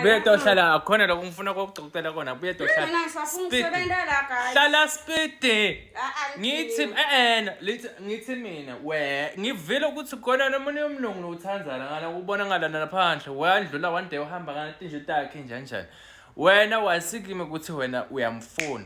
buye tohlala akhona lokho ngifuna kokugcokutela kona buye tohlala hlala spidi ngithi eena lithi ngithi mina we ngivile ukuthi khona nomunye umlungu nowuthandzana ngala ubona ngalana laphandle wandlula one day uhamba ngana tinje takhe njanjani wena wasikime ukuthi wena uyamfuna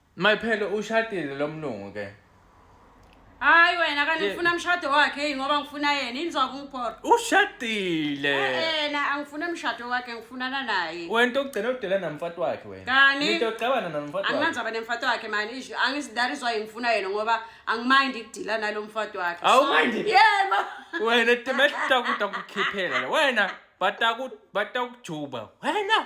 My phela ushadile lo mlungu ke. Hayi wena kanti Ye- ngifuna umshado wakhe yini ngoba ngifuna yena yini zokungiphora. Ushadile. Eh na angifuna umshado wakhe ngifunana naye. Wena ogcina udela namfati wakhe wena. Kani? Nito ocabana namfati wakhe. Angimanzi aba nemfati wakhe mani isho angizidarizwa ngifuna yena ngoba angimind ukudila nalo mfati wakhe. Awu, So, mind it. Yebo. Wena timehla kuta kukhiphela. Wena bataku batakujuba. Wena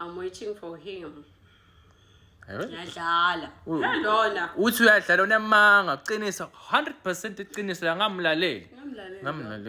I'm waiting for him. Yadlala. Lona. Uthi uyadlala unamanga, uqinisa 100% iqiniso la ngamlaleli. Ngamlaleli. Ngamlaleli.